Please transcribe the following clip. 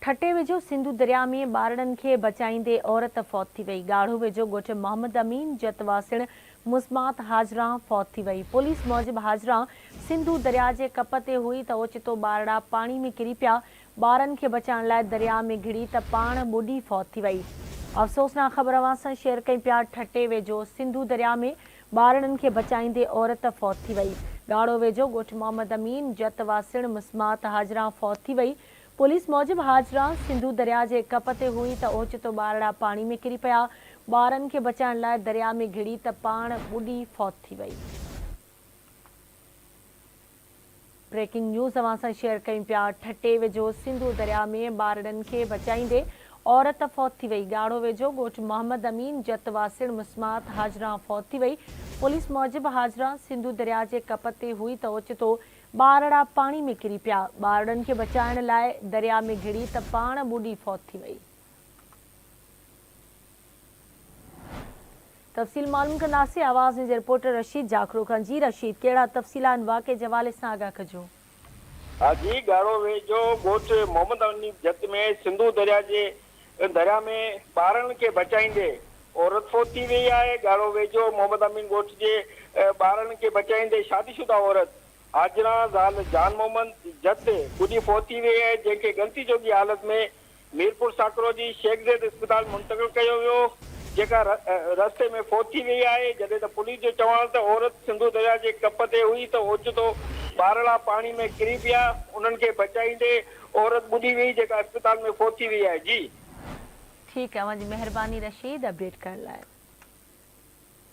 ٺٽي ويجهو سنڌو درياء ۾ ٻارڙن کي بچائيندي عورت فوت ٿي وئي، ڳاڙهو ويجهو ڳوٺ محمد امين جت واسڻ مزمات هاجران فوت ٿي وئي، پوليس موجب هاجران سنڌو درياء جي ڪپ تي هئي ته اوچتو ٻارڙا پاڻي ۾ ڪري پيا، ٻارن کي بچائڻ لاء درياء ۾ گهڙي ته پاڻ ٻڏي فوت ٿي وئي. افسوسناڪ خبر اوهان سان شيئر ڪيون پيا ٺٽي ويجهو سنڌو درياء ۾ ٻارڙن کي بچائيندي عورت فوت ٿي وئي ڳاڙهو ويجهو ڳوٺ محمد امين جت واسڻ مسمات هاجران فوت ٿي وئي پوليس موجب هاجران سنڌو درياء جي ڪپ تي هئي ته اوچتو ٻارڙا پاڻي ۾ ڪري پيا ٻارن کي بچائڻ لاء درياء ۾ گهڙي ته پاڻ ٻڏي فوت ٿي وئي. بريڪنگ نيوز اوهان سان شيئر ڪيون پيا ٺٽي ويجهو سنڌو درياء ۾ ٻارڙن کي بچائيندي عورت فوت ٿي وئي، ڳاڙهو ويجهو ڳوٺ محمد امين جت واسيڻ مسمات هاجران فوت ٿي وئي، پوليس موجب هاجران سنڌو درياء جي ڪپ تي هئي ته اوچتو ٻارڙا پاڻي ۾ ڪري پيا، ٻارڙن کي بچائڻ لاء درياء ۾ گهڙي ته پاڻ ٻڏي فوت ٿي وئي. تفصيل معلوم ڪنداسين آواز نيوز جي رپورٽر رشيد جاکوڙو کان جي رشيد ڪهڙا تفصيل آهن واقعي جي حوالي سان آگاهه ڪجو. ها جي ڳاڙهو ويجهو ڳوٺ محمد امين جت ۾ سنڌو درياء جي درياء ۾ ٻارڙن کي بچائيندي عورت فوت ٿي وئي آهي ڳاڙهو ويجهو محمد امين ڳوٺ جي ٻارڙن کي بچائيندي شادي شده عورت حاجران زال جان محمد جت ٻڏي فوت ٿي وئي آهي جنهن کي ڳڻتي جوڳي حالت ۾ ميرپور ساڪرو جي شيخ زيد اسپتال منتقل ڪيو ويو، جيڪا رستي ۾ فوت ٿي وئي آهي، جڏهن ته پوليس جو چوڻ ته عورت سنڌو درياهه جي ڪپ تي هئي ته اوچتو ٻارڙا پاڻي ۾ ڪري پيا، انهن کي بچائيندي عورت ٻڏي وئي، جيڪا اسپتال ۾ فوت ٿي وئي آهي. جي. ٺيڪ اوهان جي مهرباني رشيد اپڊيٽ ڪرڻ لاء.